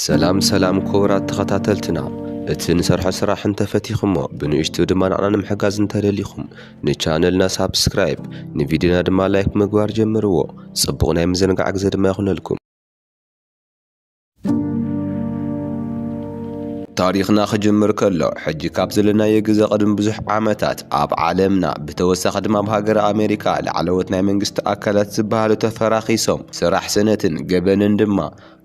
ሰላም ሰላም ኩቡራት ተኸታተልትና እቲ ንሰርሖ ስራሕ እንተፈቲኹሞ ብንእሽቱ ድማ ንዓና ንምሕጋዝ እንተደሊኹም ንቻነልና ሳብስክራይብ ንቪድዮና ድማ ላይክ ምግባር ጀምርዎ ጽቡቕ ናይ ምዝንጋዕ ግዜ ድማ ይኹነልኩም ታሪኽና ክጅምር ከሎ ሕጂ ካብ ዘለናዮ ግዘ ቅድሚ ብዙሕ ዓመታት ኣብ ዓለምና ብተወሳኺ ድማ ኣብ ሃገረ ኣሜሪካ ላዕለዎት ናይ መንግስቲ ኣካላት ዝበሃሉ ተፈራኺሶም ስራሕ ስእነትን ገበንን ድማ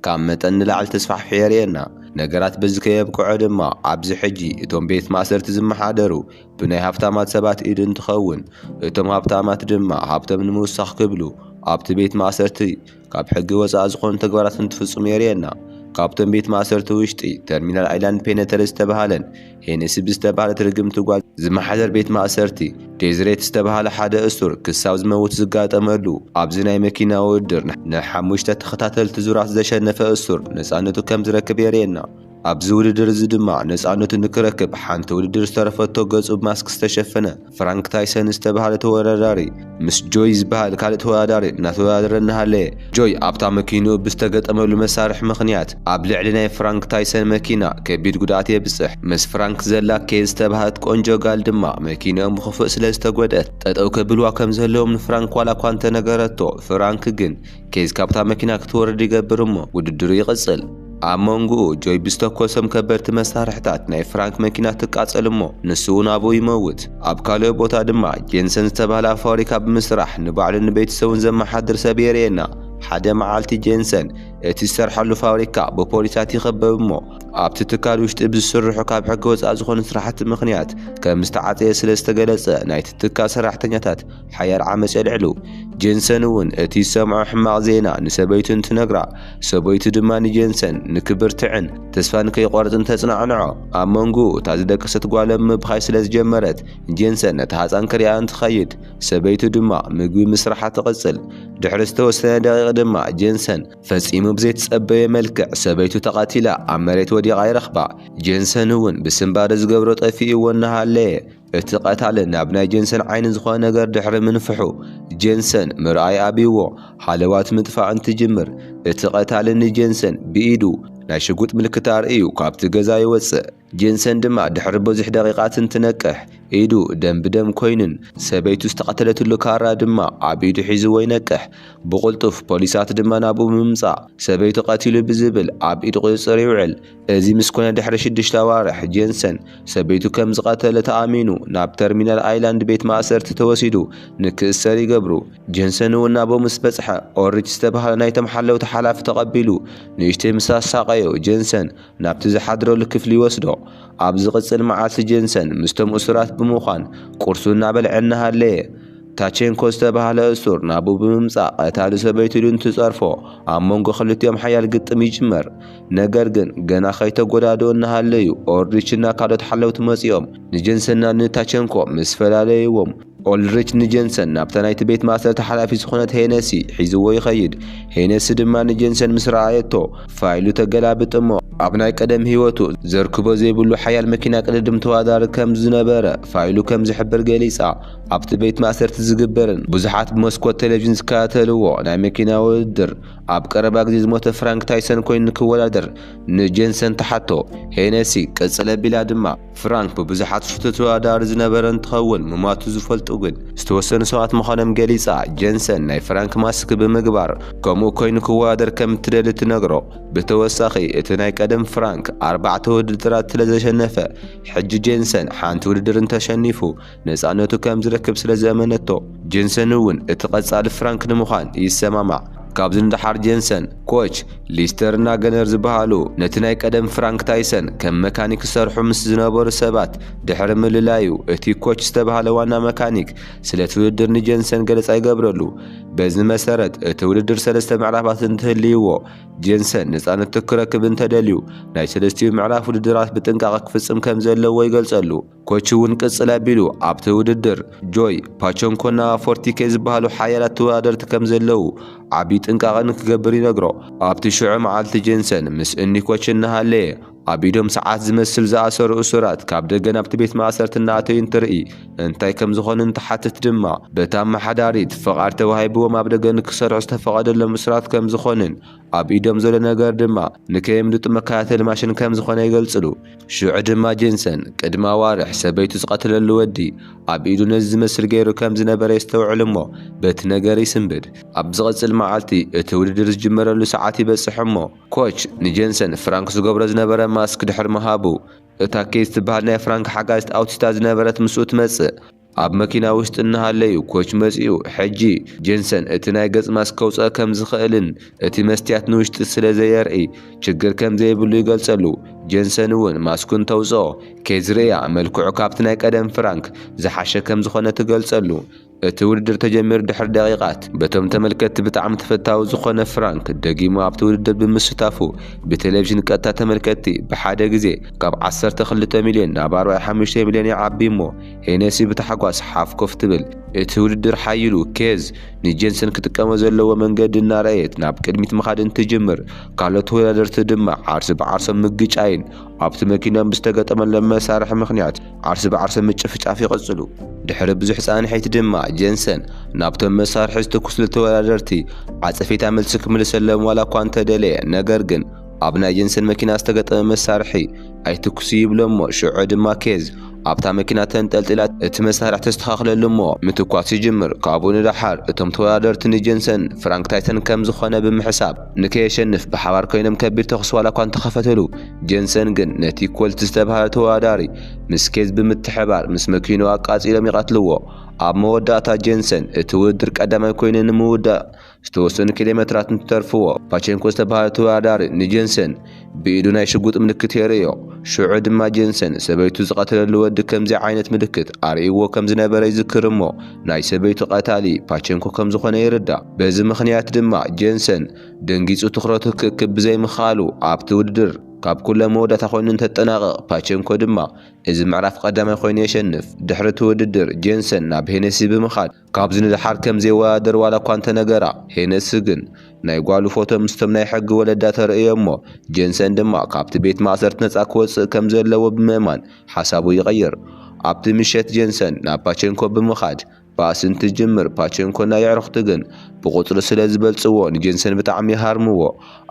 ካብ መጠን ንላዕሊ ተስፋሕፊሑ የርእየና። ነገራት በዚ ከየብቅዑ ድማ ኣብዚ ሕጂ እቶም ቤት ማእሰርቲ ዝመሓደሩ ብናይ ሃብታማት ሰባት ኢድ እንትኸውን እቶም ሃብታማት ድማ ሃብቶም ንምውሳኽ ክብሉ ኣብቲ ቤት ማእሰርቲ ካብ ሕጊ ወፃኢ ዝኾኑ ተግባራት እንትፍፅሙ የርእየና። ካብቶም ቤት ማእሰርቲ ውሽጢ ተርሚናል ኣይላንድ ፔነተሪ ዝተብሃለን ሄነሲ ብዝተባህለት ርግምቲ ጓል ዝመሓደር ቤት ማእሰርቲ፣ ዴዝሬት ዝተባህለ ሓደ እሱር ክሳብ ዝመውት ዝጋጠመሉ፣ ኣብዚ ናይ መኪና ውድድር ንሓሙሽተ ተኸታተልቲ ዙራት ዘሸነፈ እሱር ነጻነቱ ከም ዝረክብ የርእየና። ኣብዚ ውድድር እዚ ድማ ነጻነቱ ንክረክብ ሓንቲ ውድድር ዝተረፈቶ ገጹ ብማስክ ዝተሸፈነ፣ ፍራንክ ታይሰን ዝተባህለ ተወዳዳሪ ምስ ጆይ ዝበሃል ካልእ ተወዳዳሪ እናተወዳደረ እናሃለየ፣ ጆይ ኣብታ መኪንኡ ብዝተገጠመሉ መሳርሒ ምኽንያት ኣብ ልዕሊ ናይ ፍራንክ ታይሰን መኪና ከቢድ ጉድኣት የብጽሕ። ምስ ፍራንክ ዘላ ኬዝ ዝተባህለት ቆንጆ ጋል ድማ መኪንኦም ብኽፉእ ስለዝተጎድኣት ጠጠው ከብልዋ ከምዘለዎም ንፍራንክ ዋላኳ እንተነገረቶ፣ ፍራንክ ግን ኬዝ ካብታ መኪና ክትወርድ ይገብር እሞ ውድድሩ ይቕጽል። ኣብ መንጉኡ ጆይ ብዝተኮሶም ከበድቲ መሳርሕታት ናይ ፍራንክ መኪና ትቃጸል እሞ ንሱ'ውን ኣብኡ ይመውት። ኣብ ካልኦ ቦታ ድማ ጄንሰን ዝተባህለ ኣብ ፋብሪካ ብምስራሕ ንባዕሉን ንቤተሰቡን ዘመሓድር ሰብ የርእየና። ሓደ መዓልቲ ጄንሰን እቲ ዝሰርሓሉ ፋብሪካ ብፖሊሳት ይኽበብ እሞ ኣብቲ ትካል ውሽጢ ብዝስርሑ ካብ ሕጊ ወጻኢ ዝኾኑ ስራሕቲ ምኽንያት ከምዝተዓጸየ ስለዝተገለጸ ናይቲ ትካል ሰራሕተኛታት ሓያል ዓመጽ የልዕሉ። ጄንሰን እውን እቲ ዝሰምዖ ሕማቕ ዜና ንሰበይቱ እንትነግራ፣ ሰበይቱ ድማ ንጄንሰን ንክብርትዕን ተስፋ ንከይቖርጽን ተጽናዕንዖ። ኣብ መንጎኡ እታ ዝደቀሰት ጓሎም ምብኻይ ስለ ዝጀመረት፣ ጄንሰን ነታ ህጻን ክርእያ እንትኸይድ፣ ሰበይቱ ድማ ምግቢ ምስራሓ ትቕጽል። ድሕሪ ዝተወሰነ ደቒቕ ድማ ጄንሰን ፈጺሙ ብዘይትጸበዮ መልክዕ ሰበይቱ ተቐቲላ ኣብ መሬት ወዲቓ ይረኽባ። ጄንሰን እውን ብስንባደ ዝገብሮ ጠፊኡዎ እናሃለየ፣ እቲ ቀታሊ ናብ ናይ ጀንሰን ዓይኒ ዝኾነ ነገር ድሕሪ ምንፍሑ፣ ጀንሰን ምርኣይ ኣብዩዎ ሃለዋት ምጥፋእ እንትጅምር፣ እቲ ቀታሊ ንጀንሰን ብኢዱ ናይ ሽጉጥ ምልክት ኣርእዩ ካብቲ ገዛ ይወጽእ። ጀንሰን ድማ ድሕሪ ብዙሕ ደቂቓት እንትነቅሕ፣ ኢዱ ደም ብደም ኮይኑን ሰበይቱ ዝተቐተለትሉ ካራ ድማ ኣብ ኢዱ ሒዙዎ ይነቅሕ። ብቕልጡፍ ፖሊሳት ድማ ናብኡ ብምምጻእ ሰበይቱ ቀቲሉ ብዝብል ኣብ ኢድ ቁጽጽር ይውዕል። እዚ ምስ ኮነ ድሕሪ ሽዱሽተ ኣዋርሕ፣ ጄንሰን ሰበይቱ ከም ዝቐተለ ተኣሚኑ ናብ ተርሚናል ኣይላንድ ቤት ማእሰርቲ ተወሲዱ ንክእሰር ይገብሩ። ጄንሰን'ውን ናብኡ ምስ በጽሐ፣ ኦልሪች ዝተባህለ ናይቶም ሓለውቲ ሓላፊ ተቐቢሉ ንእሽተይ ምስ ኣሳቐዮ፣ ጄንሰን ናብቲ ዝሓድረሉ ክፍሊ ይወስዶ። ኣብ ዝቕጽል መዓልቲ ጄንሰን ምስቶም እሱራት ብምዃን ቁርሱ እናበልዐ እናሃለየ፣ ታቼንኮ ዝተባህለ እሱር ናብኡ ብምምጻእ ቀታሊ ሰበይቱ ኢሉ እንትጸርፎ ኣብ መንጎ ክልቲኦም ሓያል ግጥም ይጅመር። ነገር ግን ገና ከይተጎዳድኡ እናሃለዩ ኦልሪች እና ካልኦት ሓለውቲ መጺኦም ንጀንሰንና ንታቸንኮ ምስ ፈላለይዎም ኦልሪች ንጀንሰን ናብታ ናይቲ ቤት ማእሰርቲ ሓላፊት ዝኾነት ሄነሲ ሒዝዎ ይኸይድ። ሄነሲ ድማ ንጀንሰን ምስ ረኣየቶ ፋይሉ ተገላብጥ እሞ፣ ኣብ ናይ ቀደም ህይወቱ ዘርክቦ ዘይብሉ ሓያል መኪና ቅድድም ተዋዳሪ ከም ዝነበረ ፋይሉ ከም ዝሕብር ገሊጻ። ኣብቲ ቤት ማእሰርቲ ዝግበርን ብዙሓት ብመስኮት ቴሌቪዥን ዝከታተልዎ ናይ መኪና ውድድር፣ ኣብ ቀረባ ግዜ ዝሞተ ፍራንክ ታይሰን ኮይኑ ንክወዳደር ንጄንሰን ትሓቶ። ሄነሲ ቅጽል ኣቢላ ድማ፣ ፍራንክ ብብዙሓት ዝፍቶ ተወዳዳሪ ዝነበረ እንትኸውን፣ ምሟቱ ዝፈልጡ ግን ዝተወሰኑ ሰባት ምዃኖም ገሊጻ። ጄንሰን ናይ ፍራንክ ማስክ ብምግባር ከምኡ ኮይኑ ክወዳደር ከም እትደሊ ትነግሮ። ብተወሳኺ፣ እቲ ናይ ቀደም ፍራንክ ኣርባዕተ ውድድራት ስለዘሸነፈ፣ ሕጂ ጄንሰን ሓንቲ ውድድር እንተሸኒፉ፣ ነጻነቱ ከም ዝረክብ ስለ ዘእመነቶ፣ ጀንሰን እውን እቲ ቀጻሊ ፍራንክ ንምዃን ይሰማማዕ። ካብዚ ንደሓር ጀንሰን፣ ኮች፣ ሊስተር እና ገነር ዝበሃሉ ነቲ ናይ ቀደም ፍራንክ ታይሰን ከም መካኒክ ዝሰርሑ ምስ ዝነበሩ ሰባት ድሕሪ ምልላዩ፣ እቲ ኮች ዝተባህለ ዋና መካኒክ ስለቲ ውድድር ንጀንሰን ገለጻ ይገብረሉ። በዚ መሰረት እቲ ውድድር ሰለስተ ምዕራፋት እንትህልይዎ፣ ጀንሰን ነጻነቱ ክረክብ እንተደልዩ ናይ ሰለስቲኡ ምዕራፍ ውድድራት ብጥንቃቐ ክፍጽም ከም ዘለዎ ይገልጸሉ። ኮች እውን ቅፅል ኣቢሉ ኣብቲ ውድድር ጆይ ፓቸንኮና ፎርቲኬ ዝበሃሉ ሓያላት ተወዳደርቲ ከምዘለዉ ዓብዪ ጥንቃቐ ንክገብር ይነግሮ። ኣብቲ ሽዑ መዓልቲ ጄንሰን ምስ እኒ ኮች እናሃለየ ኣብ ኢዶም ሰዓት ዝመስል ዝኣሰሩ እሱራት ካብ ደገ ናብቲ ቤት ማእሰርቲ እናኣተዩ እንትርኢ እንታይ ከምዝኾኑ እንትሓትት ድማ በታ ኣመሓዳሪት ፍቓድ ተዋሂብዎም ኣብ ደገ ንክሰርሑ ዝተፈቐደሎም እሱራት ከምዝኾኑን ኣብ ኢዶም ዘሎ ነገር ድማ ንከየምልጡ መከታተሊ ማሽን ከም ዝዀነ ይገልጽሉ። ሽዑ ድማ ጄንሰን፣ ቅድሚ ኣዋርሕ ሰበይቱ ዝቐተለሉ ወዲ ኣብ ኢዱ ነዚ ዝመስል ገይሩ ከም ዝነበረ የስተውዕል እሞ በቲ ነገር ይስንብድ። ኣብ ዝቕጽል መዓልቲ እቲ ውድድር ዝጅመረሉ ሰዓት ይበጽሕ እሞ ኮች ንጄንሰን ፍራንክ ዝገብሮ ዝነበረ ማስክ ድሕሪ ምሃቡ፣ እታ ኬዝ ትበሃል ናይ ፍራንክ ሓጋዚት ኣውቲስታ ዝነበረት ምስኡ ትመጽእ። ኣብ መኪና ውሽጢ እናሃለዩ ኮች መጺኡ፣ ሕጂ ጄንሰን እቲ ናይ ገጽ ማስክ ከውጽኦ ከም ዝኽእልን እቲ መስትያት ንውሽጢ ስለ ዘየርኢ ችግር ከም ዘይብሉ ይገልጸሉ። ጄንሰን እውን ማስኩ እንተውጽኦ ኬዝርእያ መልክዑ ካብቲ ናይ ቀደም ፍራንክ ዝሓሸ ከም ዝኾነ ትገልጸሉ። እቲ ውድድር ተጀሚሩ ድሕሪ ደቂቓት፣ በቶም ተመልከትቲ ብጣዕሚ ተፈታዊ ዝኾነ ፍራንክ ደጊሙ ኣብቲ ውድድር ብምስታፉ ብቴሌቪዥን ቀጥታ ተመልከትቲ ብሓደ ግዜ ካብ ዓሰርተ ክልተ ሚልዮን ናብ ኣርባዕተ ሓሙሽተ ሚልዮን ይዓቢ እሞ ሄነሲ ብታሕጓስ ሓፍ ኮፍ ትብል። እቲ ውድድር ሓዪሉ፣ ኬዝ ንጄንሰን ክጥቀሞ ዘለዎ መንገዲ እናረኣየት ናብ ቅድሚት ምኻድ እንትጅምር፣ ካልኦት ተወዳደርቲ ድማ ዓርሰ ብዓርሶም ምግጫይን ኣብቲ መኪኖም ብዝተገጠመሎም መሳርሒ ምኽንያት ዓርሰ ብዓርሶም ምጭፍጫፍ ይቕጽሉ። ድሕሪ ብዙሕ ጻንሒት ድማ ጄንሰን ናብቶም መሳርሒ ዝተኩስሉ ተወዳደርቲ ዓጸፌታ መልሲ ክምልሰሎም ዋላኳ እንተደለየ ነገር ግን ኣብ ናይ ጀንሰን መኪና ዝተገጠመ መሳርሒ ኣይትኩሱ ይብሎ'ሞ ሽዑ ድማ ኬዝ ኣብታ መኪና ተንጠልጢላ እቲ መሳርሒ ተስተኻኽለሉ'ሞ ምትኳስ ይጅምር። ካብኡ ንደሓር እቶም ተወዳደርቲ ንጀንሰን ፍራንክ ታይሰን ከም ዝኾነ ብምሕሳብ ንከየሸንፍ ብሓባር ኮይኖም ከቢድ ተኹሲ ዋላኳ እንተኸፈትሉ ጀንሰን ግን ነቲ ኮልት ዝተብሃለ ተወዳዳሪ ምስ ኬዝ ብምትሕብባር ምስ መኪንኡ ኣቃጺሎም ይቐትልዎ። ኣብ መወዳእታ ጀንሰን እቲ ውድድር ቀዳማይ ኮይኑ ንምውዳእ ዝተወሰኑ ኪሎሜትራት እንትተርፍዎ፣ ፓቸንኮ ዝተባህለ ተወዳዳሪ ንጀንሰን ብኢዱ ናይ ሽጉጥ ምልክት የርእዮ። ሽዑ ድማ ጀንሰን ሰበይቱ ዝቐተለሉ ወዲ ከምዚ ዓይነት ምልክት ኣርእይዎ ከም ዝነበረ ይዝክር እሞ ናይ ሰበይቱ ቀታሊ ፓቸንኮ ከም ዝኾነ ይርዳእ። በዚ ምኽንያት ድማ ጀንሰን ደንጊጹ ትኹረቱ ክእክብ ብዘይምኽኣሉ ኣብቲ ውድድር ካብ ኩሎም መወዳእታ ኮይኑ እንተጠናቕቕ ፓቸንኮ ድማ እዚ ምዕራፍ ቀዳማይ ኮይኑ የሸንፍ። ድሕሪ እቲ ውድድር ጀንሰን ናብ ሄነሲ ብምኻድ፣ ካብዚ ንደሓር ከም ዘይወዳደር ዋላኳ እንተነገራ፣ ሄነስ ግን ናይ ጓሉ ፎቶ ምስቶም ናይ ሕጊ ወለዳ ተርእዮ'ሞ፣ ጀንሰን ድማ ካብቲ ቤት ማእሰርቲ ነጻ ክወጽእ ከም ዘለዎ ብምእማን ሓሳቡ ይቕይር። ኣብቲ ምሸት ጀንሰን ናብ ፓቸንኮ ብምኻድ ባእሲ እንትጅምር፣ ፓቸንኮ ናይ የዕሩኽቱ ግን ብቑጽሪ ስለ ዝበልጽዎ ንጀንሰን ብጣዕሚ ይሃርምዎ።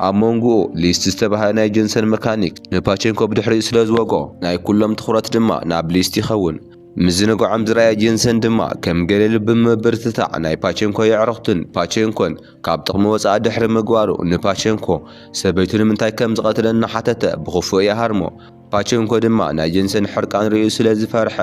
ኣብ መንጉኡ ሊስት ዝተባህለ ናይ ጀንሰን መካኒክ ንፓቸንኮ ብድሕሪኡ ስለ ዝወግኦ፣ ናይ ኩሎም ትኹረት ድማ ናብ ሊስት ይኸውን። ምዝንጋዖም ዝረኣየ ጀንሰን ድማ ከም ገለሉ ብምብርትታዕ ናይ ፓቸንኮ የዕሩኽቱን ፓቸንኮን ካብ ጥቕሚ ወጻኢ ድሕሪ ምግባሩ ንፓቸንኮ ሰበይቱ ንምንታይ ከም ዝቐትለ እናሓተተ ብኽፉእ ይሃርሞ። ፓቸንኮ ድማ ናይ ጀንሰን ሕርቃን ርእዩ ስለ ዝፈርሐ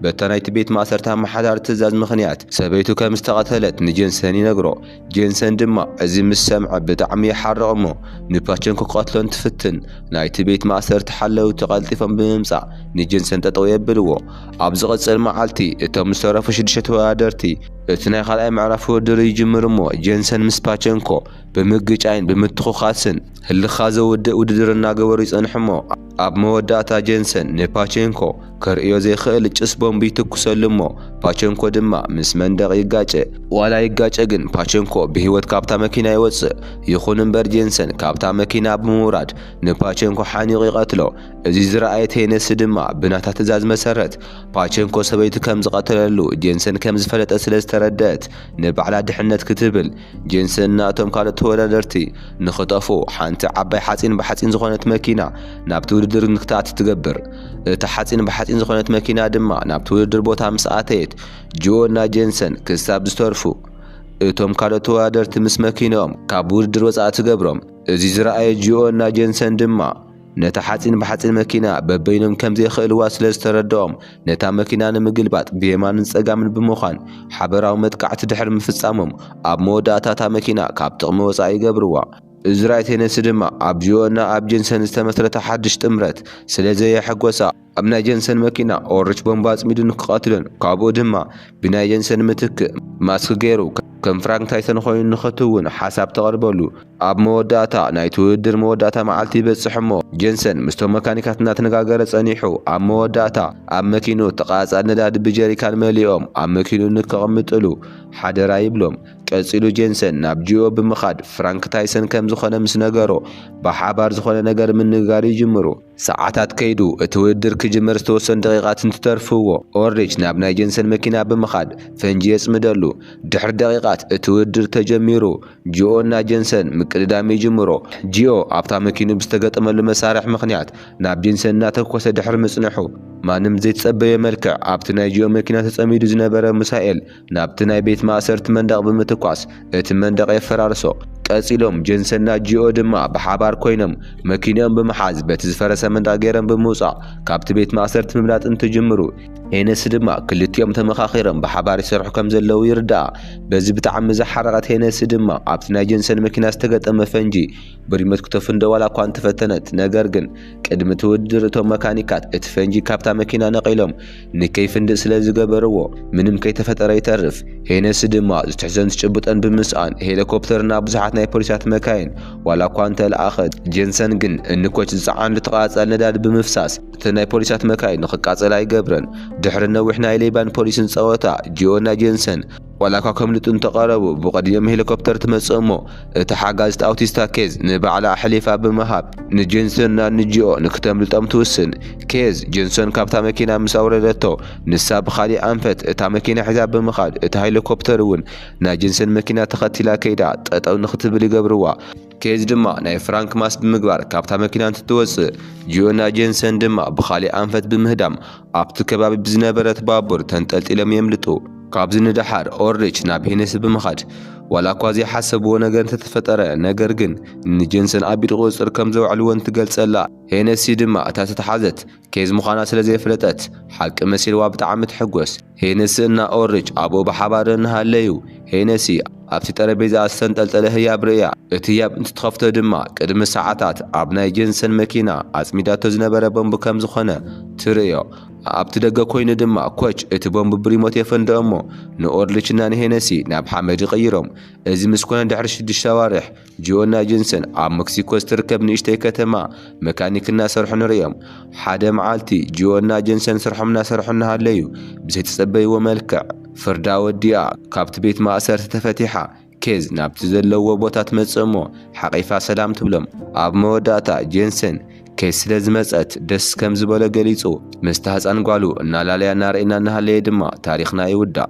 በታ ናይቲ ቤት ማእሰርቲ ኣመሓዳሪ ትእዛዝ ምኽንያት ሰበይቱ ከም ዝተቐተለት ንጀንሰን ይነግሮ። ጄንሰን ድማ እዚ ምስ ሰምዐ ብጣዕሚ ይሓርቕ እሞ ንፓቸን ክቐትሎ እንትፍትን ናይቲ ቤት ማእሰርቲ ሓለውቲ ቀልጢፎም ብምምጻእ ንጄንሰን ጠጠው የብልዎ። ኣብ ዝቕጽል መዓልቲ እቶም ዝተረፉ ሽዱሽተ ተወዳደርቲ እቲ ናይ ካልኣይ ምዕራፍ ውድድር ይጅምሩ እሞ ጄንሰን ምስ ፓቸንኮ ብምግጫይን ብምትኹኻስን ህልኽኻ ዘውድእ ውድድር እናገበሩ ይጸንሑ'ሞ፣ ኣብ መወዳእታ ጀንሰን ንፓቸንኮ ከርእዮ ዘይክእል ጭስ ቦምብ ይትኩሰሉ'ሞ፣ ፓቸንኮ ድማ ምስ መንደቕ ይጋጨ። ዋላ ይጋጨ ግን ፓቸንኮ ብህይወት ካብታ መኪና ይወጽእ። ይኹን'ምበር ጀንሰን ካብታ መኪና ብምውራድ ንፓቸንኮ ሓኒቑ ይቐትሎ። እዚ ዝረኣየ ቴነሲ ድማ ብናታ ትእዛዝ መሰረት ፓቸንኮ ሰበይቱ ከም ዝቐተለሉ ጀንሰን ከም ዝፈለጠት ስለ ዝተረደኣት ንባዕላ ድሕነት ክትብል ጄንሰን ናእቶም ካልኦት ተወዳደርቲ ንኽጠፍኡ ሓንቲ ዓባይ ሓጺን ብሓጺን ዝኾነት መኪና ናብቲ ውድድር ንክትኣቲ ትገብር። እታ ሓጺን ብሓጺን ዝኾነት መኪና ድማ ናብቲ ውድድር ቦታ ምስ ኣተየት፣ ጅኦ እና ጄንሰን ክሳብ ዝተርፉ እቶም ካልኦት ተወዳደርቲ ምስ መኪንኦም ካብ ውድድር ወጻኢ ትገብሮም። እዚ ዝረኣየ ጅኦ እና ጄንሰን ድማ፣ ነታ ሓጺን ብሓጺን መኪና በበይኖም ከም ዘይክእልዋ ስለ ዝተረድኦም፣ ነታ መኪና ንምግልባጥ ብየማንን ጸጋምን ብምዃን ሓበራዊ መጥቃዕቲ ድሕሪ ምፍጻሞም፣ ኣብ መወዳእታ እታ መኪና ካብ ጥቕሚ ወጻኢ ይገብርዋ። እዝራይ ቴነሲ ድማ ኣብ ጂኦና ኣብ ጄንሰን ዝተመስረተ ሓድሽ ጥምረት ስለ ዘየሐጐሳ፣ ኣብ ናይ ጀንሰን መኪና ኦርች ቦምባ ኣጽሚዱ ንክቐትሎን ካብኡ ድማ ብናይ ጀንሰን ምትክ ማስክ ገይሩ ከም ፍራንክ ታይሰን ኮይኑ ንክትውን ሓሳብ ተቕርበሉ። ኣብ መወዳእታ ናይቲ ውድድር መወዳእታ መዓልቲ ይበጽሕ እሞ ጀንሰን ምስቶም መካኒካት እናተነጋገረ ጸኒሑ ኣብ መወዳእታ ኣብ መኪንኡ ተቓጻሊ ነዳዲ ብጀሪካን መሊኦም ኣብ መኪንኡ ንከቕምጥሉ ሓደራ ይብሎም። ቀጺሉ ጀንሰን ናብ ጂኦ ብምኻድ ፍራንክ ታይሰን ከም ዝኾነ ምስ ነገሮ ብሓባር ዝኾነ ነገር ምንግጋር ይጅምሩ። ሰዓታት ከይዱ፣ እቲ ውድድር ክጅመር ዝተወሰኑ ደቒቓት እንትተርፍዎ፣ ኦልሪች ናብ ናይ ጀንሰን መኪና ብምኻድ ፈንጂ የጽምደሉ። ድሕሪ ደቒቓት እቲ ውድድር ተጀሚሩ፣ ጂኦ እና ጀንሰን ምቅድዳም ይጅምሩ። ጂኦ ኣብታ መኪኑ ብዝተገጠመሉ መሳርሒ ምኽንያት ናብ ጀንሰን እናተኮሰ ድሕሪ ምጽንሑ፣ ማንም ብዘይተጸበዮ መልክዕ ኣብቲ ናይ ጂኦ መኪና ተጸሚዱ ዝነበረ ሙሳኤል ናብቲ ናይ ቤት ማእሰርቲ መንደቕ ብምትኳስ እቲ መንደቕ የፈራርሶ። ቀጺሎም ጀንሰን ናጂኦ ድማ ብሓባር ኮይኖም መኪንኦም ብምሓዝ በቲ ዝፈረሰ መንደቕ ገይሮም ብምውጻእ ካብቲ ቤት ማእሰርቲ ምምላጥ እንትጅምሩ፣ ሄነሲ ድማ ክልቲኦም ተመኻኺሮም ብሓባር ይሰርሑ ከም ዘለዉ ይርዳኣ። በዚ ብጣዕሚ ዝሓረቐት ሄነሲ ድማ ኣብቲ ናይ ጀንሰን መኪና ዝተገጠመ ፈንጂ ብሪሞት ክተፍንዶ ዋላኳ እንተፈተነት ነገር ግን ቅድሚ እቲ ውድድር እቶም መካኒካት እቲ ፈንጂ ካብታ መኪና ነቒሎም ንከይፍንድእ ስለ ዝገበርዎ ምንም ከይተፈጠረ ይተርፍ። ሄነሲ ድማ ዝትሕዞን ዝጭብጦን ብምስኣን ሄለኮፕተር እና ብዙሓት ናይ ፖሊሳት መካይን ዋላኳ እንተለኣኸት ጄንሰን ግን እንኮች ዝፀዓንሉ ተቓፃሊ ነዳዲ ብምፍሳስ እተን ናይ ፖሊሳት መካይን ንክቃፀላ ይገብረን። ድሕሪ ነዊሕ ናይ ሌባን ፖሊስን ፀወታ ጂኦና ጄንሰን ዋላኳ ከምልጡ እንተቐረቡ፣ ብቕድሚኦም ሄሊኮፕተር ትመጽእ እሞ፣ እታ ሓጋዚት ኣውቲስታ ኬዝ ንባዕላ ኣሕሊፋ ብምሃብ፣ ንጄንሰን ናብ ንጅኦ ንክተምልጦም ትውስን። ኬዝ፣ ጄንሰን ካብታ መኪና ምስ ኣውረደቶ፣ ንሳ ብኻሊእ ኣንፈት እታ መኪና ሒዛ ብምኻድ፣ እታ ሄሊኮፕተር'ውን ናይ ጄንሰን መኪና ተኸቲላ ከይዳ ጠጠው ንክትብል ይገብርዋ። ኬዝ ድማ ናይ ፍራንክ ማስ ብምግባር ካብታ መኪና እንትትወጽእ፣ ጂዮና ጄንሰን ድማ ብኻልእ ኣንፈት ብምህዳም ኣብቲ ከባቢ ብዝነበረት ባቡር ተንጠልጢሎም የምልጡ። ካብዚ ንደሓር ኦልሪች ናብ ሄነሲ ብምኻድ ዋላኳ ዘይሓሰብዎ ነገር እንተተፈጠረ ነገር ግን ንጄንሰን ኣብ ኢድ ቁጽጽር ከምዘውዕልወን ትገልጸላ። ሄነሲ ድማ እታ ዝተትሓዘት ኬዝ ምዃና ስለ ዘየፍለጠት ሓቂ መሲልዋ ብጣዕሚ ትሕጎስ። ሄነሲ እና ኦርች ኣብኡ ብሓባር እንሃለዩ ሄነሲ ኣብቲ ጠረጴዛኣ ዝተንጠልጠለ ህያብ ርእያ። እቲ ህያብ እንትትኸፍቶ ድማ ቅድሚ ሰዓታት ኣብ ናይ ጀንሰን መኪና ኣጽሚዳቶ ዝነበረ ቦምብ ከም ዝኾነ ትርእዮ። ኣብቲ ደገ ኮይኑ ድማ ኮች እቲ ቦምብ ብሪሞት የፈንድኦ'ሞ ንኦርልች እና ንሄነሲ ናብ ሓመድ ይቕይሮም። እዚ ምስ ኮነ ድሕሪ ሽዱሽተ ኣዋርሕ፣ ጂዮና ጅንሰን ኣብ መክሲኮ ዝትርከብ ንእሽተይ ከተማ መካኒክ እናሰርሑ ንርእዮም። ሓደ መዓልቲ ጂዮና ጀንሰን ስርሖም እናሰርሑ እናሃለዩ ብዘይተጸበይዎ መልክዕ ፍርዳ ወዲኣ ካብቲ ቤት ማእሰርቲ ተፈቲሓ ኬዝ ናብቲ ዘለውዎ ቦታ ትመጽእሞ ሓቒፋ ሰላም ትብሎም። ኣብ መወዳእታ ጀንሰን ኬዝ ስለ ዝመጸት ደስ ከም ዝበሎ ገሊጹ። ምስታ ህጻን ጓሉ እናላለያ እናረኣየና እናሃለየ ድማ ታሪኽና ይውዳእ።